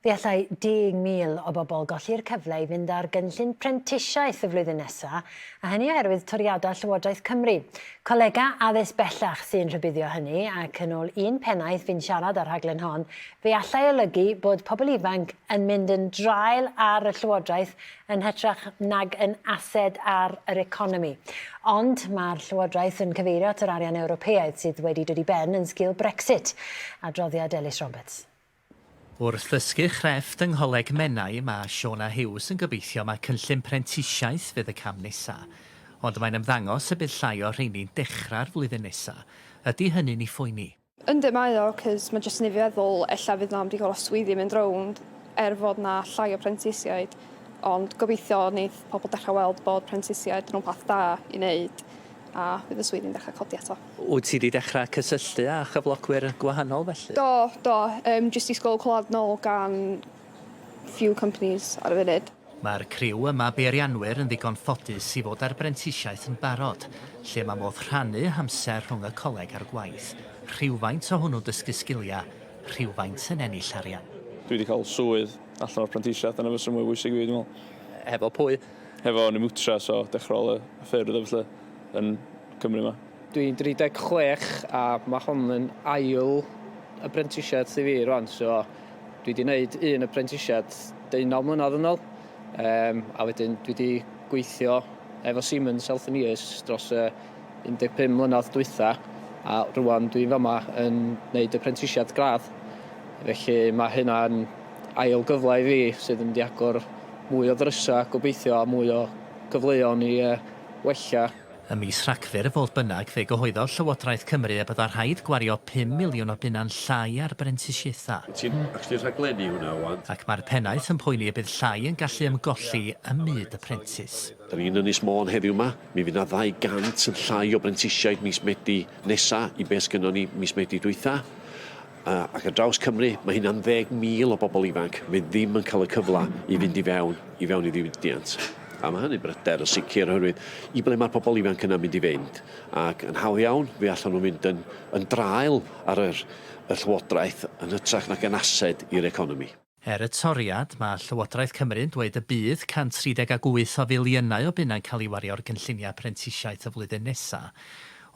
Fe allai 10,000 o bobl golli'r cyfle i fynd ar gynllun prentisiaeth y flwyddyn nesaf, a hynny oherwydd toriadau Llywodraeth Cymru. Colegau addysg bellach sy'n rhybuddio hynny, ac yn ôl un pennaeth fu'n siarad â'r rhaglen hon, fe allai olygu bod pobl ifanc yn mynd yn draul ar y Llywodraeth yn hytrach nag yn ased ar yr economi. Ond mae'r Llywodraeth yn cyfeirio at yr arian Ewropeaidd sydd wedi dod i ben yn sgil Brexit. Adroddiad Elis Roberts. Wrth ddysgu chrefft yng Ngholeg Menai, mae Shona Hughes yn gobeithio mai cynllun prentisiaeth fydd y cam nesa'. Ond mae'n ymddangos y bydd llai o rheini'n dechrau'r flwyddyn nesa'. Ydy hynny'n 'i phoeni? Yndi mae o, 'cos mae jyst yn 'neud fi feddwl ella fydd 'na am digon o swyddi yn mynd rownd er fod 'na llai o prentisiaid, ond gobeithio neith pobl dechra' weld bod prentisiaid yn rwbath da i 'neud. a bydd y swyddi'n dechrau codi eto. Wyt ti wedi dechrau cysylltu â chyflogwyr gwahanol felly? Do, do, um, jyst disgwyl clywed nôl gan few companies ar y funud. Mae'r criw yma beirianwyr yn ddigon ffodus i fod ar brentisiaeth yn barod, lle mae modd rhannu hamser rhwng y coleg a'r gwaith, rhywfaint o hwnnw'n dysgu sgiliau, rhywfaint yn ennill arian. Dwi wedi cael swydd allan o'r prentisiaeth, dyna beth sy'n mwy bwysig i fi dwi'n meddwl. Hefo pwy? Hefo ni mwtra so dechra ol y ffyrdd a ballu yn Cymru ma. Dwi'n 36 a ma hon yn ail aprentisiad thi fi rwan so dwi di neud un aprentisiad deunaw mlynadd yn ol yym a wedyn dwi di gweithio efo Siemens Healthineers dros y 15 mlynadd dwytha a rwan dwi'n fama yn neud aprentisiad gradd felly ma hynna'n Ail gyfle i fi sydd yn mynd i agor mwy o ddrysau gobeithio a mwy o gyfleon i wella. Ym mis Rhagfyr, fodd bynnag, fe gyhoeddodd Llywodraeth Cymru y byddai rhaid gwario pum miliwn o bunnau'n llai ar brentisiaethau. Ti'n actually rhaglennu hwnna ŵan? Ac mae'r pennaeth yn poeni y bydd llai yn gallu ymgolli ym myd y prentis. Dan ni'n Ynys Môn heddiw 'ma, mi fydd 'na 200 yn llai o brentisiaid mis Medi nesa i be' sgynnon ni mis Medi dwytha. A, ac ar draws Cymru, mae hynna'n ddeg mil o bobl ifanc fydd ddim yn cael y cyfle i fynd i fewn, i fewn i ddiwydiant. A mae hynny'n bryder yn sicr, oherwydd i ble mae'r pobl ifanc yna'n mynd i fynd? Ac yn hawdd iawn, fe allan nhw fynd yn, yn draul ar yr, y llywodraeth yn hytrach nag yn ased i'r economi. Er y toriad, mae Llywodraeth Cymru'n dweud y bydd 138 o filiynau o bunnau'n cael ei wario ar gynlluniau prentisiaeth y flwyddyn nesaf.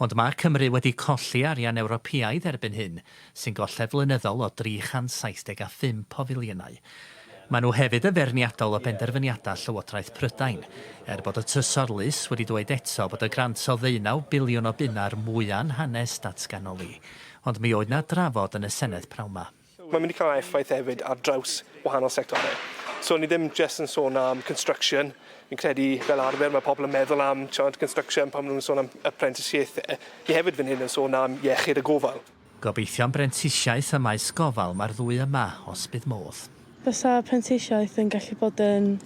Ond mae Cymru wedi colli arian Ewropeaidd erbyn hyn, sy'n golled flynyddol o 375 o filiynau. Maen nhw hefyd yn feirniadol o benderfyniadau Llywodraeth Prydain, er bod y Trysor Lys wedi dweud eto bod y grant o ddeunaw biliwn o bunnau'r mwya'nhanes datganoli. Ond mi oedd 'na drafod yn y Senedd pnawn 'ma. Mae'n mynd i cael effaith hefyd ar draws wahanol sectorau. So ni ddim jyst yn sôn am construction. Fi'n credu fel arfer mae pobl yn meddwl am tiod, construction pan maen nhw'n sôn am apprenticeshiaethau. Ni hefyd fan hyn yn sôn am iechyd a gofal. Gobeithio am brentisiaeth ym maes gofal mae'r ddwy yma, os bydd modd. Bysa prentisiaeth yn gallu bod yn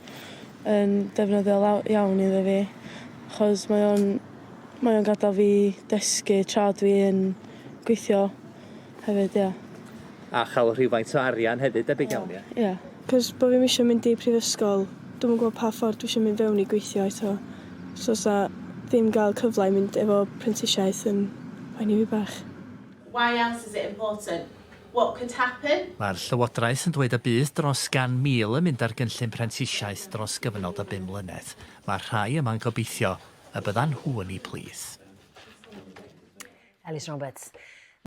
yn defnyddiol iawn iddo fi achos mae o'n mae o'n gadael fi dysgu tra dwi yn gweithio. hefyd ia. A chael rhywfaint o arian hefyd debyg iawn ia? Ia. Cos bo' fi'm isio mynd i prifysgol dwi'm yn gwbo pa ffordd dwi isio mynd fewn i gweithio eto so sa ddim ga'l cyfla i mynd efo prentisiaeth yn poeni fi bach. Why else is it important? What could happen? Mae'r Llywodraeth yn dweud y bydd dros 100,000 yn mynd ar gynllun prentisiaeth dros gyfnod o bum mlynedd. Mae'r rhai yma'n gobeithio y byddan nhw yn eu plith. Elis Roberts.